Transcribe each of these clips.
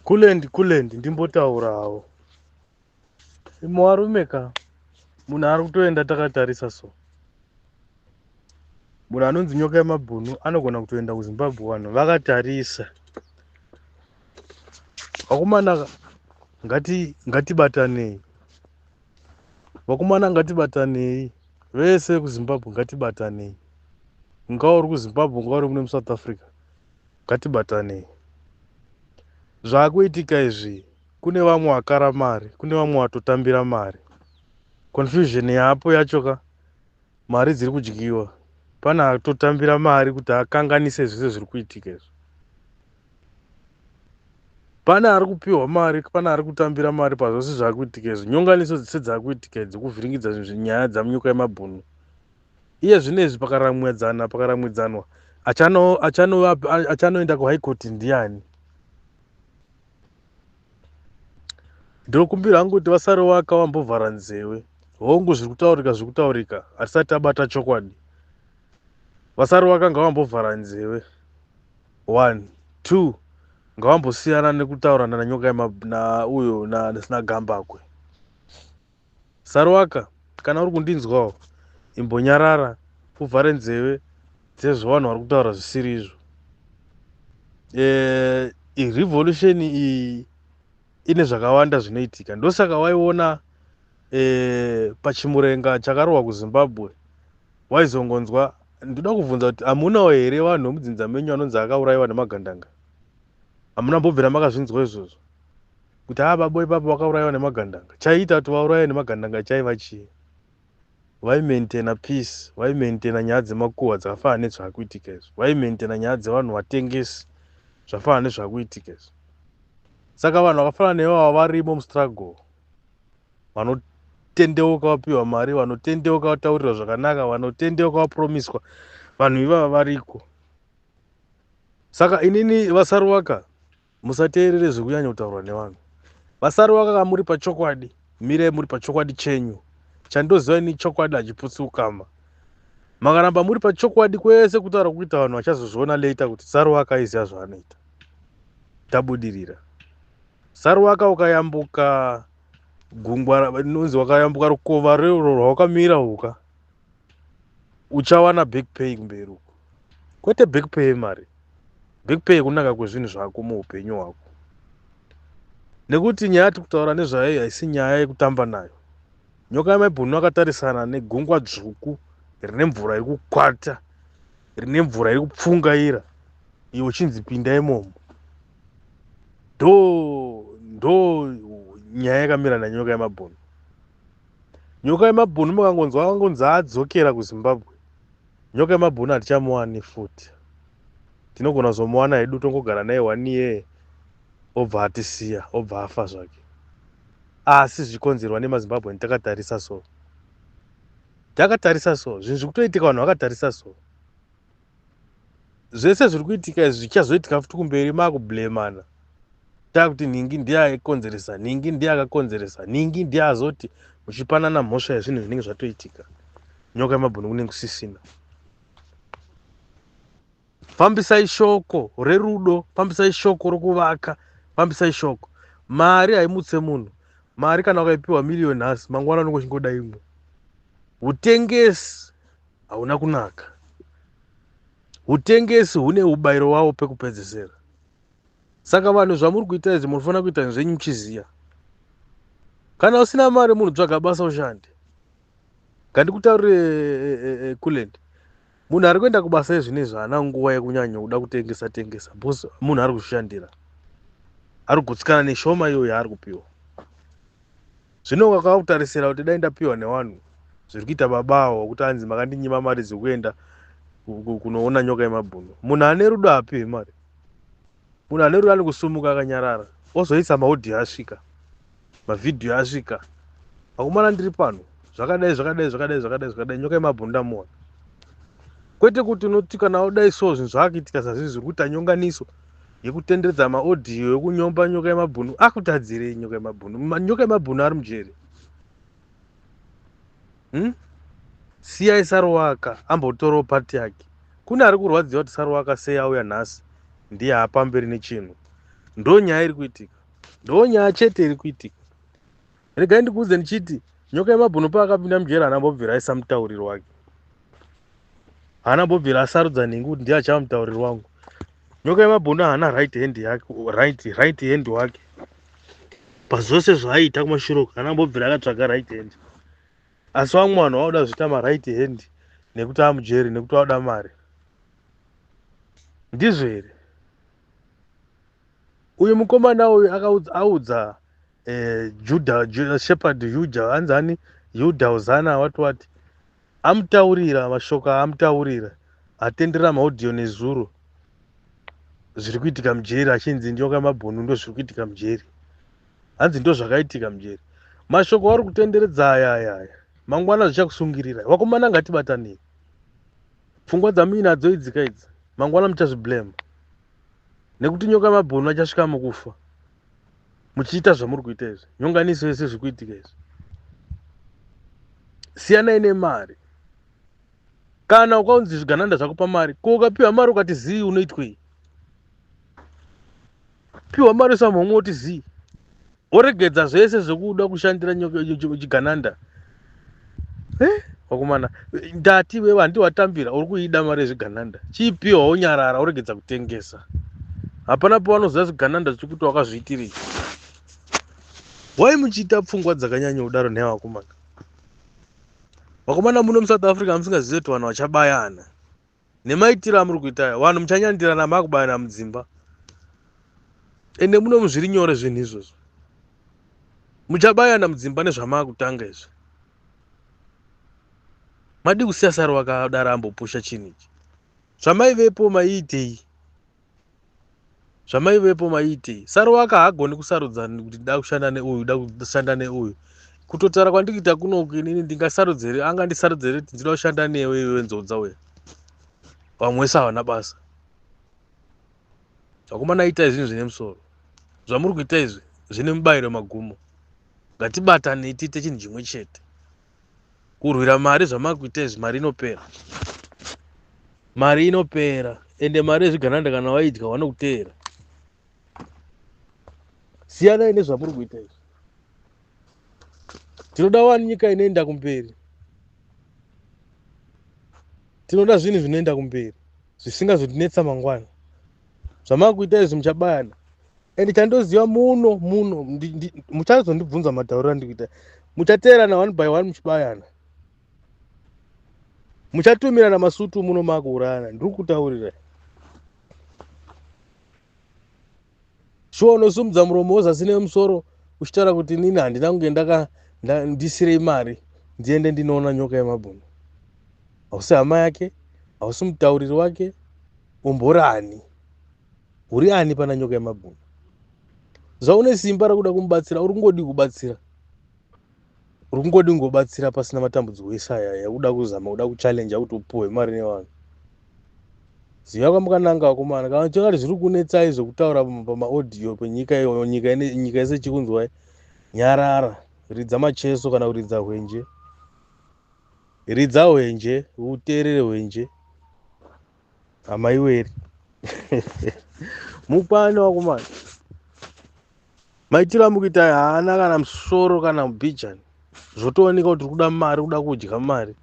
Kulendi kulendi ndimbotaurawo. Imwe warume ka munhu ari kutoenda takatarisa so. Munhu anonzi nyoka yemabhunu anogona kutoenda kuZimbabwe vanhu vakatarisa. Vakomana ngati ngatibatanei. Vakomana ngatibatanei vese kuZimbabwe ngatibatanei. Ungauri kuZimbabwe ungauri muno muSouth Africa. ngatibatanei zvakuitika izvi kune vamwe vakara mari kune vamwe vatotambira mari confusion yapo yacho ka mari dziri kudyiwa pane atotambira mari kuti akanganise zvese zviri kuitika izvi pane ari kupiwa mari pane ari kutambira mari pazvose zvakuitika izvi nyonganiso dzese dzakuitika idzi kuvhiringidza nyaya dzamunyuka yemabhunu iye zvinezvi pakaramwidzana pakaramwidzanwa achanoenda kuhigh court ndiani ndokumbira hangu kuti vasare waka wambovhara nzewe hongu zviri kutaurika zviri kutaurika hatisati tabata chokwadi vasari waka ngavambovhara nzewe one two ngavambosiyana nekutaurana nanyoka na uyo nasina gambakwe Saruwaka kana uri kundinzwawo imbonyarara uvhare nzeve dzezvo vanhu vari kutaura zvisiri izvo eh, revolution iyi ine zvakawanda zvinoitika ndosaka waiona eh, pachimurenga chakarohwa kuzimbabwe waizongonzwa ndoda kubvunza kuti hamunawo here vanhu vemudzinza menyu anonzi akaurayiwa nemagandanga hamuna mbobvira makazvinzwa izvozvo kuti haa babo ipapo vakaurayiwa nemagandanga chaiita kuti vaurayiwe nemagandanga chaiva chii vaimaintaina peace vaimaintaina nyaya dzemakuhwa dzakafanana nezvakuitika izvi vaimaintaina nyaya dzevanhu vatengesi zvafanana nezvakuitika izvi saka vanhu vakafanana nevava varimo mustruggle vanotendeuka vapiwa mari vanotendeuka vataurirwa zvakanaka vanotendeuka vapromiswa vanhu ivava variko saka inini vasaruwaka musateerere zvekunyanya kutaurwa nevanhu vasaruwaka kamuri pachokwadi mirai muri pachokwadi chenyu chandoziva ini chokwadi hachiputsi ukama makaramba muri pachokwadi kwese kutaura kuita vanhu vachazozviona later kuti saruwaka aiziva zvaanoita tabudirira saruwaka ukayambuka gungwa inonzi wakayambuka rukova rero rwawakamira uka uchawana back pay kumberi uko kwete back pay yemari back pay yekunaka kwezvinhu zvako muupenyu hwako nekuti nyaya yati kutaura nezvayo haisi nyaya yekutamba nayo nyoka yamaibhunu akatarisana negungwa dzvuku rine mvura iri kukwata rine mvura iri kupfungaira iyo uchinzi pinda imomo ndo ndo nyaya yakamira nanyoka yamabhunu nyoka yemabhunu makangonzwa akangonzi adzokera kuzimbabwe nyoka yemabhunu hatichamuwani futi tinogona kuzomuwana hedu tongogara naye one year obva atisiya obva afa zvake asi zvichikonzerwa nemazimbabweni takatarisa so takatarisa so zvinhu zviri kutoitika vanhu vakatarisa so zvese zviri kuitika izvi zvichazoitika futi kumberi makublemana takuti nhingi ndiye aikonzeresa nhingi ndiye akakonzeresa nhingi ndiye azoti muchipanana mhosva yezvinhu zvinenge zvatoitika nyoka yemabhunu kunenge kusisina fambisai shoko rerudo fambisai shoko rokuvaka fambisai shoko mari haimutse munhu mari kana ukaipiwa miriyoni nhasi mangwana unenge uchingoda imwe utengesi hauna kunaka. Hutengesi hune ubairo wawo pekupedzesera. Saka vanhu zvamuri kuita izvi munofanira kuita zvenyu muchiziya. Kana usina mari munhu tsvaga basa ushande. Ngandikutaurire eh, eh, eh, Kulend. Munhu ari kuenda kubasa izvi nezvi haana nguva yekunyanya kuda kutengesa tengesa because munhu ari kuzvishandira. Ari kugutsikana neshoma iyoyo yaari kupiwa. Zvino kakakutarisira kuti dai ndapiwa newanhu zviri kuita baba awo kuti anzi makandinyima mari dzekuenda kunoona nyoka yemabhunu munhu ane rudo apiwe mari munhu ane rudo anekusumuka akanyarara ozoisa maudhi asvika mavhidhiyo asvika akumana ndiri pano zvakadai zvakadai zvakadai zvakadai zvakadai nyoka yemabhunu ndamuona kwete kuti unoti kana udai so zvinhu zvaakuitika sazvii zviri kuita nyonganiso yekutenderedza maaudio yekunyomba nyoka yemabhunu akutadzirei nyoka yemabhunu nyoka yemabhunu ari mujeri hmm? siyai saruwaka ambotorawo pati yake kune ari kurwadziwa kuti saruwaka sei auya nhasi ndiye haapamberi nechinhu ndo nyaya iri kuitika ndo nyaya chete iri kuitika regai ndikuudze ndichiti nyoka yemabhunu paakapinda mujeri haana mbobvira aisa mutauriri wake haana mbobvira asarudza nhingi kuti ndiye achava mutauriri wangu nyoka yemabhunu haana right hand yake right, right hand wake pazvose zvaaiita kumashure uku haana mbobvira akatsvaga right hand asi vamwe vanhu vauda zviita maright hand nekuti amujeri nekuti vauda mari ndizvo here uyu mukomana uyu akaudza eh, juda ju, shepherd yuja anzani yuda uzana wati wati amutaurira mashoko aamutaurira atendera maudio nezuro zviri kuitika mujeri achinzi nyoka mabhunu ndo zviri kuitika mujeri hanzi ndo zvakaitika mujeri mashoko auri kutenderedza aya aya aya mangwana zvichakusungirira vakomana ngatibatanei pfungwa dzamuinadzo idzika idzi mangwana muchazviblema nekuti nyoka mabhunu achasvika mukufa muchiita zvamuri kuita izvi nyonganiso yese zviri kuitika izvi siyanai nemari kana ukaunzi zvigananda zvakupa mari ko ukapiwa mari ukati zii unoitwei piwa mari usamhomwe uti zii woregedza zvese zvekuda kushandira chigananda eh, wakomana ndati wewe handi watambira uri kuida mari yezvigananda chipiwa wonyarara woregedza kutengesa hapana pawanoziva zvigananda zvichiri kuti wakazviitirii why muchiita pfungwa dzakanyanya kudaro nhaya wakomana vakomana muno musouth africa musingazive kuti vanhu vachabayana nemaitiro amuri kuita aya vanhu muchanyandirana makubayana mudzimba ende muno muzviri nyore zvinhu izvozvo muchabayana mudzimba nezvamakutanga izvi madii kusiya sari wakadaro ambopusha chinhu ichi zvamaivepo maiitei zvamaivepo maiitei saruwaka haagoni kusarudza kuti da kushanda neuyu da kushanda neuyu kutotaura kwandikiita kunoku inini ndingasarudzere anga ndisarudzere kuti ndinoda kushanda newe iwe nzodza uya vamwe wese havana basa vakomana itai zvinhu zvine musoro zvamuri kuita izvi zvine mubayiro magumo ngatibatanei tiite chinhu chimwe chete kurwira mari zvamakuita izvi mari inopera mari inopera ende mari yezvigananda kana waidya wanokuteera siyanai nezvamuri kuita izvi tinoda wani nyika inoenda kumberi tinoda zvinhu zvinoenda kumberi zvisingazotinetsa mangwana zvamakuita izvi muchabayana and chandoziva muno muno muchazondibvunza matauriro andikuita muchateerana one by one muchibayana muchatumirana masutu muno makuurayana ndiri kutaurira shuwa unosumudza muromo wozasi nemusoro uchitaura kuti inini handina kunge ndaka ndisire imari ndiende ndinoona nyoka yemabhunu hausi hama yake hausi mutauriri wake Umbori ani? Uri ani pana nyoka yemagumbo? Zvaune simba rekuda kumubatsira uri kungodi kubatsira. Uri kungodi kungobatsira pasina matambudziko ese aya yakuda kuzama kuda kuchallenja kuti upuhwe mari nevanhu. Ziva kwamukananga vakomana kana chakati zviri kunetsai zvekutaura pamaaudio penyika iyoyo nyika nyika yese chikunzwai nyarara ridza macheso kana kuridza hwenje ridza hwenje uteerere hwenje amaiweri mupane wakomana maitiro amukuita haana kana musoro kana mubhijani zvotooneka kuti kuda mari kuda kudya mari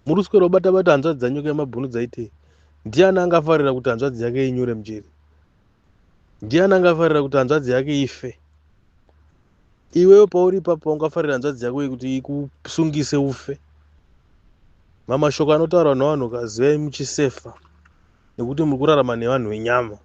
muri kuswera ubata bata hanzvadzi dzanyuka yemabhunu dzaitei ndiani angafarira kuti hanzvadzi yake inyure mjeri ndiani angafarira kuti hanzvadzi yake ife iwewe pauri ipapo ungafarira hanzvadzi yako yekuti ikusungise ufe mamashoko anotaurwa nevanhu kazivai muchisefa nekuti muri kurarama nevanhu venyama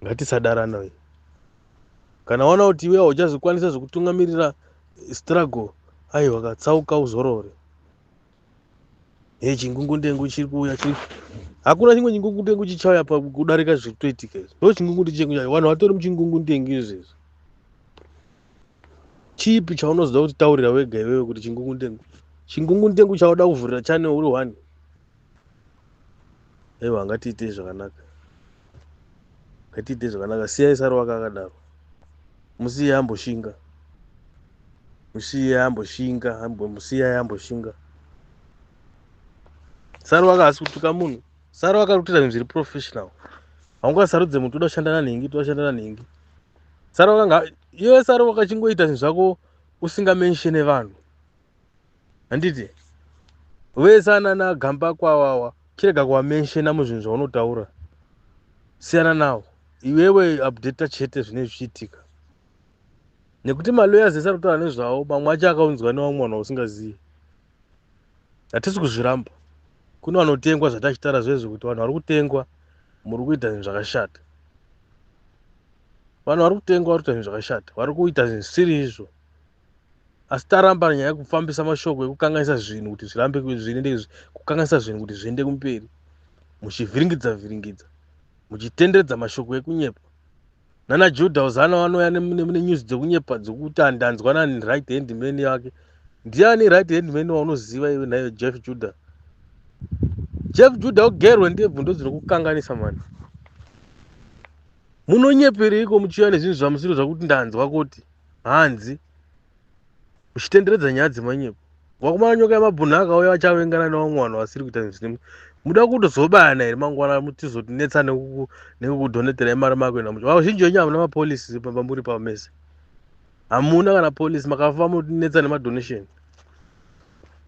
ngatisadarana uyu kana waona kuti iwe hauchazvikwanisa zvekutungamirira struggle aiwa katsauka uzorore Hey, chingungundengu chiri kuuya chiri hakuna chimwe chingungundengu chichauya pakudarika zviri kutoitika izvi ndo chingungundi chengu chacho vanhu vatori muchingungundengu izvezvi chipi chaunozoda kuti taurira wega iwewe kuti chingungundengu chingungundengu chauda kuvhurira chane uri one aiwa ngatiitei zvakanaka ngatiitei zvakanaka siyai saro wake akadaro musiye amboshinga musiye amboshinga musiyai amboshinga saro wake asi kutuka munhu saro wake ari kutoita zvinhu zviri professional haungasarudze munhu toda kushanda nanhingi toda kushanda nanhingi saro wake iwe saro wakachingoita zvinhu zvako usingamenshene vanhu handiti vese anana gamba kwawawa chirega kuwamenshena muzvinhu zvaunotaura siyana nawo iwewe updata chete zvinenge zvichiitika nekuti maloyers ese ari kutaura nezvawo mamwe acho akaunzwa newamwe vanhu vausingazivi hatisi kuzviramba kune vanotengwa zvatachitaura zvezvo kuti vanhu vari kutengwa muri kuita zvinhu zvakashata vanhu vari kutengwa vari kuita zvinhu zvakashata vari kuita zvinhu zvisiri izvo asi taramba nyaya yekufambisa mashoko ekukanganisa zvinhu kuti zvirambe zviende kukanganisa zvinhu kuti zviende kumberi muchivhiringidza vhiringidza muchitenderedza mashoko ekunyepa nana juda uzana vanouya nenyuzi dzekunyepa dzekuti andanzwa nani right hand man yake ndiani right hand man waunoziva iwe nayo jeff juda jeff juda ugerwe ndebvu ndodzinokukanganisa mani munonyepereiko muchiuya nezvinhu zvamusiro zvakuti ndanzwa kuti hanzi uchitenderedza nyaya dzemanyepo wakumana nyoka yemabhunhu akauya vachavengana nevamwe vanhu vasiri kuita zvinhu muda kutozobayana here mangwana mutizotinetsa nekukudhonetera imari mako ina mucho vazhinji venyu hamuna mapolisi pambamuri pavo mese hamuna kana polisi makafa mutinetsa nemadonation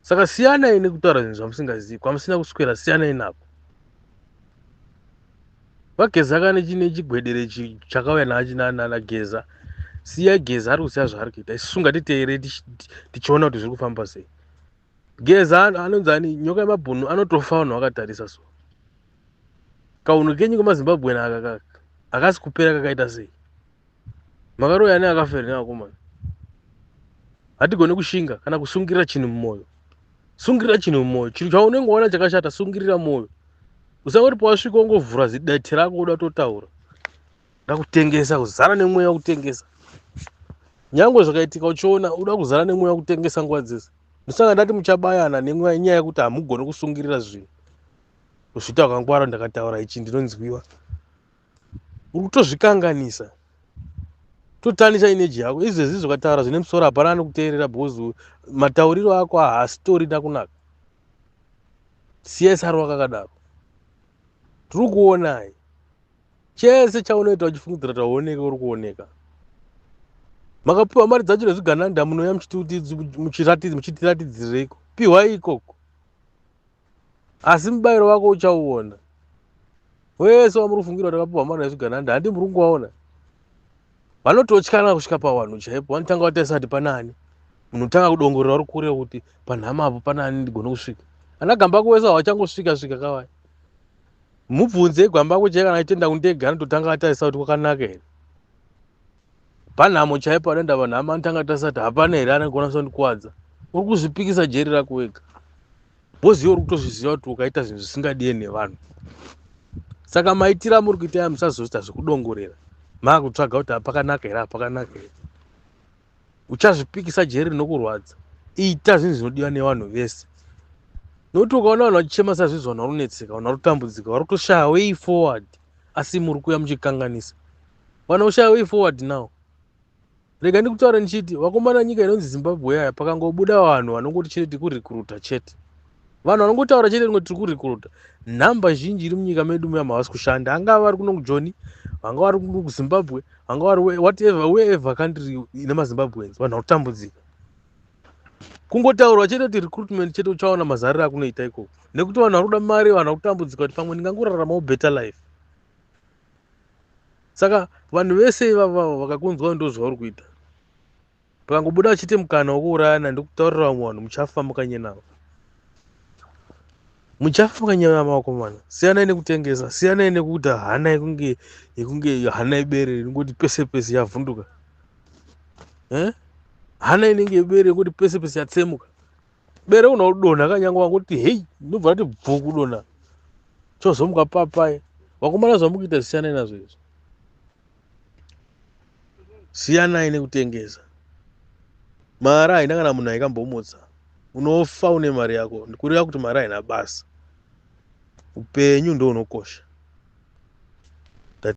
saka siyanai nekutaura zvinhu zvamusingazivi kwamusina kuswera siyanai nako Vageza kane chine chigwedere ichi chakauya nachi nana Geza. Siya Geza ari kusiya zvaari kuita. Isu ngatiteere tichiona kuti zviri kufamba sei. Geza anonzi ani nyoka yemabhunu anotofa vanhu vakatarisa so. Kaunhu kenyu kemaZimbabwe aka akasi kupera kakaita sei? makaroya ane akafa here nevakomana hatigone kushinga kana kusungirira chinhu mumwoyo sungirira chinhu mumwoyo chinhu chaunenge waona chakashata sungirira mwoyo usangoti pawasvika ungovhura zidete rako uda totaura uda kutengesa kuzara nemweya wekutengesa nyange zvakaitika uchiona uda kuzara nemweya wekutengesa nguva dzese ndisanga ndati muchabayana nemweya inyaya yekuti hamugone kusungirira zvinhu kuzvita kwangwara ndakataura ichi ndinonzwiwa uri kutozvikanganisa totanisa ineji yako izvezvi zvokataura zvine musoro hapana anokuteerera because matauriro ako haasitori nakunaka siya saro wakakadaro tiri kuonai chese chaunoita uchifungidzira kuti hauoneke uri kuoneka makapiwa mari dzacho nezvigananda munouya muchitiratidzireiko pihwai ikoko asi mubairo wako uchauona wese wamuri kufungira kuti vakapiwa mwana yezvigananda handi muri kungovaona vanototyana kusvika pawanhu chaipo vanotanga vatarisa kuti panani munhu tanga kudongorera uri kure kuti panhama apo panani ndigone kusvika ana gambako wese hawachangosvika svika kavai mubvunze gwambako chai kana aitenda kundega anototanga atarisa kuti kwakanaka here Panhamo chaipo anoenda vanhu amani tanga tasati hapana here anogona kusandikwadza. Uri kuzvipikisa jeri rako wega. Bozi uri kutozviziva kuti ukaita zvinhu zvisingadie nevanhu. Saka maitira muri kuita ya musazoita zvekudongorera. Makutsvaga kuti apakanaka here apakanaka here. Uchazvipikisa jeri rinokurwadza. Ita zvinhu zvinodiwa nevanhu vese. Nokuti ukaona vanhu vachichema sazvizvi vanhu vari kunetseka vanhu vari kutambudzika vari kutoshaya way forward asi muri kuya muchikanganisa. Wana ushaya way forward now. Rega ndikutaura ndichiti vakomana nyika inonzi Zimbabwe yaya pakangobuda vanhu vanongoti chete tiri kurecruita chete. Vanhu vanongotaura chete rinoti tiri kurecruita. Nhamba zhinji iri munyika medu muyama havasi kushanda. Angava vari kuno kuJoni, vanga vari kuno kuZimbabwe, vanga vari whatever wherever country ine maZimbabweans vanhu vari kutambudzika. Kungotaurwa chete kuti recruitment chete uchaona mazariro akunoita ikoko. Nekuti vanhu vari kuda mari, vanhu vari kutambudzika kuti pamwe ndingangoraramawo better life. saka vanhu vese ivavavo vakakunzwa ndozvauri kuita pakangobuda vachiti mukana wokuurayana ndikutaurira vamwe vanhu muchafa mukanyenama muchafa mukanyenama vakomana siyanai nekutengesa siyanai nekuita hana yekunge yekunge hana yebere ringoti pese pese yavhunduka eh? hana inenge yebere yekuti pese pese yatsemuka bere unodonha kanyangwa kuti hei ndobva rati bvu kudonha chozomuka papai vakomana zvamukuita zisiyanai nazvo izvo siyanai nekutengesa mari haina kana munhu aikambomutsa unofa une mari yako ndikureva kuti mari haina basa upenyu ndounokosha